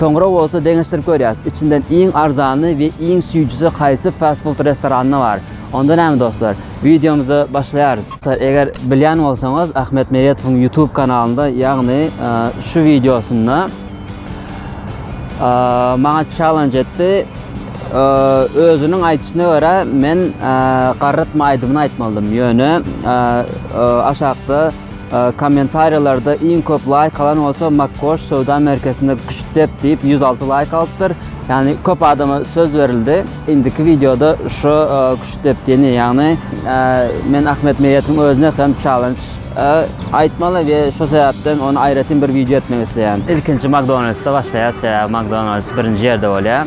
Soňra bolsa deňeşdirip görýäs, içinden iň arzany we iň süýjüsi haýsy fast-food restoranynda bar. Onda näme dostlar, wideomyzy başlaýarys. Eger bilýän bolsaňyz, Ahmet Meredowyň YouTube kanalynda, ýagny şu wideosynda maňa challenge etdi. Özüniň aýdyşyna görä, men garrytma aýdymyny aýtmalydym, ýöne aşakda Kommentariýalarda iň köp laýk alan bolsa Makkoş söwda merkezinde küştdep diýip 106 laýk alypdyr. Ýagny köp adama söz berildi. Indiki wideoda şu küştdep diýeni, ýagny men Ahmet Meýetiň özüne hem challenge aýtmaly we şu sebäpden ony aýratyn bir wideo etmek isleýän. Ilkinji Makdonaldsda başlaýas, sebäbi Makdonalds birinji ýerde bolýar.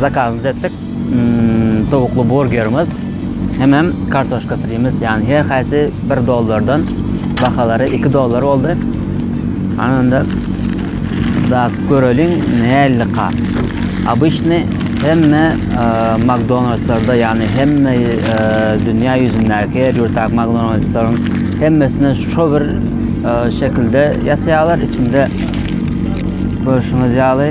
Zakazymyzy etdik. Towukly burgerimiz hemem kartoşka frimiz, ýagny her haýsy bir dollardan bahalary iki dollar boldy. Ana onda da göreliň nällika. Обычny hemme e, McDonald'slarda ýagny hemme e, dünýä ýüzündäki her ýurtdaky McDonald'slaryň hemmesinde şu bir e, şekilde ýasaýarlar içinde görüşüňiz ýaly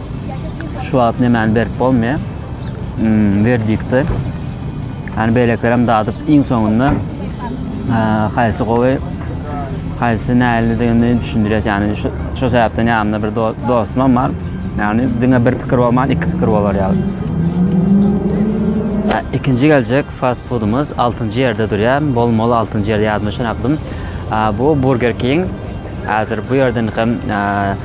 şu wagt nemäni berip bolmaýar. Hmm, verdikti. Yani beýlekler hem dadyp iň soňunda haýsy gowy, haýsy nälidigini düşündirýär. Yani şu şu sebäpden ýanymda bir dostum bar. Yani diňe bir pikir bolman, iki pikir bolar ýaly. İkinci geljek fast foodumuz 6 ýerde durýar. Bol mol 6 ýerde ýadyma şonakdym. Bu Burger King. Hazır bu ýerden hem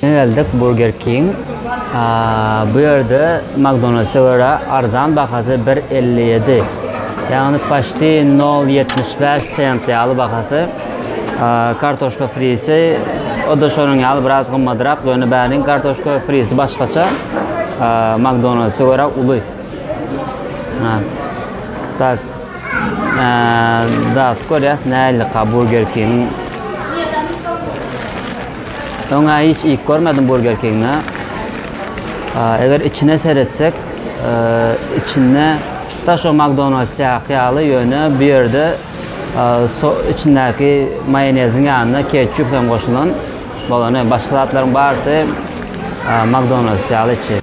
Geldik Burger King. Bu ýerde McDonald's-a görä arzan bahasy bir elli ýedi. Ýagny paçti nol ýetmiş bäş sent ýaly bahasy. Kartoşka frisi o-da şonuň ýaly biraz gymmadrak, ýöne bäriň kartoşka frisi başgaça. McDonald's-a görä uly. Ha. Tak. Eee, da görýäs nälik ha Burger King. Öňe hiç iýip görmedim Burger King'de. Eger içine seretsek, içinde da şu McDonald's ýaly ýöne bu ýerde içindäki maýoneziň ýanyna ketçup hem goşulan. Bolany başga zatlaryň barysy McDonald's ýaly içi.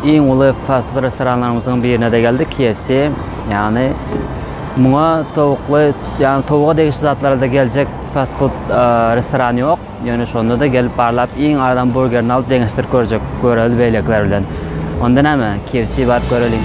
Iň uly fast-food restoranlarymyzyň birine-de geldik, KFC. Ýagny muňa towukly, ýagny towuga degişli zatlara-da geljek fast-food restoran ýok. Ýöne şonda-da gelip barlap iň aradan burgerini alyp deňeşdirip görjek, göreli beýlekiler bilen. Onda näme, KFC baryp göreliň.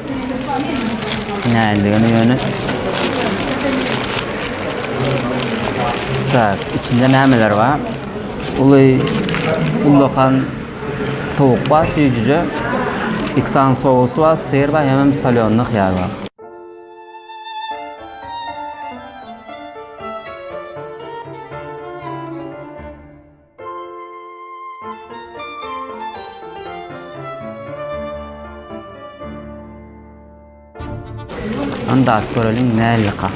Näzligini ýöne. Tak, içinde nämeler bar? Uly ullakan towuk bar, süýjüje. Iksan sosy bar, syr bar, hemem solýonly hyýar bar. Anda göreliň nälyka.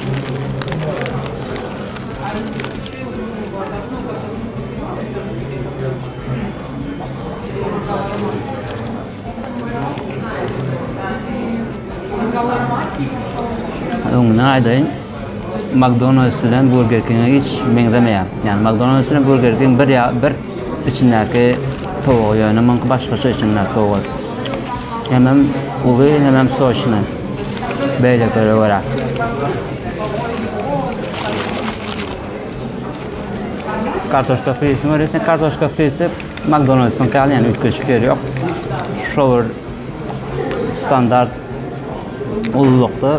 Öňüne aýdaýyn. McDonald's bilen Burger King-e hiç meňzemeýär. Ýagny McDonald's bilen Burger King bir ýa bir içindäki towugy ýöne muňky başgaça içindäki towugy. Hemem uly hemem soçny. Beýlekilere görä. Kartoşka frisini görýärsiň, kartoşka frisi McDonald's-yň ýaly ýöne üýtgeşik ýeri ýok. Şo bir standart ululykda.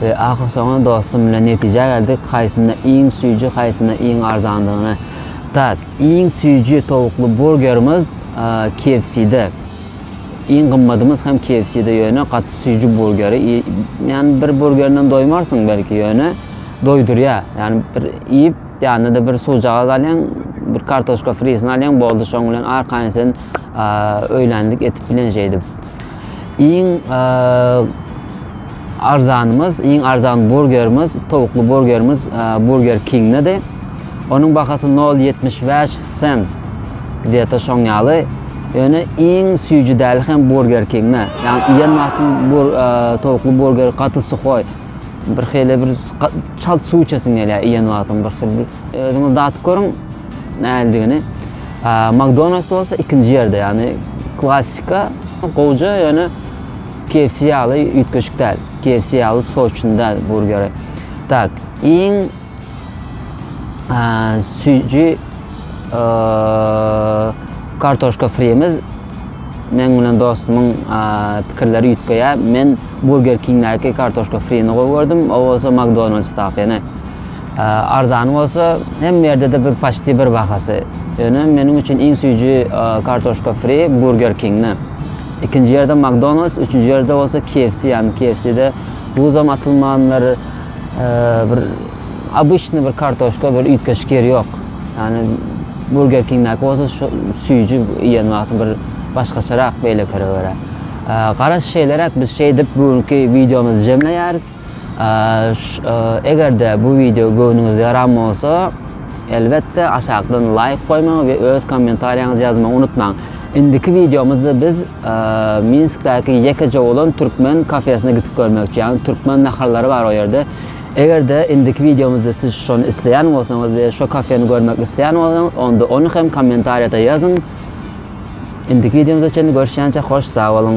We ahyrsoňy dostum bilen netijä geldik haýsyna iň süýji haýsyna iň arzandygyna tak iň süýji towukly burgerimiz KFC-de iň gymmadymyz hem KFC-de ýöne gaty süýji burgeri iý ýani bir burgerinden doýmarsyň belki ýöne doýdurýa ýani bir iýip ýanyna-da bir suwjagaz alýaň bir kartoşka frisini alýaň boldy şoň bilen arkaýyn sen öýlänlik etip bilen şeýdip. Iň arzanymyz, iň arzan burgerimiz, towukly burgerimiz Burger King-dedy. Onuň bahasy 0.75 sent. Gdeta şoň ýaly. Ýöne iň süýji däli hem Burger King-de. Ýagny iýen wagtyň bur towukly burger gaty suhoý. Bir hili bir çalt suw içesiň gelýär iýen wagtyň bir hili. Özüňiz datyp görüň nälidigini. McDonald's bolsa ikinji ýerde, ýagny klassika gowja, ýöne KFC ýaly üýtgeşik däl. KFC ýaly soçun däl burgeri. Tak, iň süýji kartoşka frimiz men bilen dostumyň pikirleri üýtgeýär. Men Burger Kingdäki kartoşka frini gowy gördüm, o bolsa McDonald'sdakyny. Arzany bolsa hemme ýerde-de bir paçti bir bahasy. Ýöne meniň üçin iň süýji Kartoşka Fri Burger Kingde. Ikinji ýerde Makdonalds, üçünji ýerde bolsa KFC, ýagny KFC-de duzam atylmandyr, bir obyçny bir kartoşka bir üýtgeşik ýeri ýok. Ýagny Burger Kingdäki bolsa şu süýji iýen wagty bir başgaçarak beýlekilere görä. Garaş şeýleräk biz şeýdip bu günki wideomyzy jemleýäris. Eger-de bu wideo göwnüňize ýaran bolsa, elbetde aşakdan laýk goýmagy we öz kommentariýaňyzy ýazmagy unutmaň. Indiki wideomyzda biz Minskdäki ýekeje bolan türkmen kafesine gidip görmekçi, ýagny türkmen naharlary bar o ýerde. Eger-de indiki wideomyzda siz şony isleýän bolsaňyz we şo kafeni görmek isleýän bolsaňyz, onda ony hem kommentariýada ýazyň. Indiki wideomyzda çenli görüşýänçä hoş sag boluň.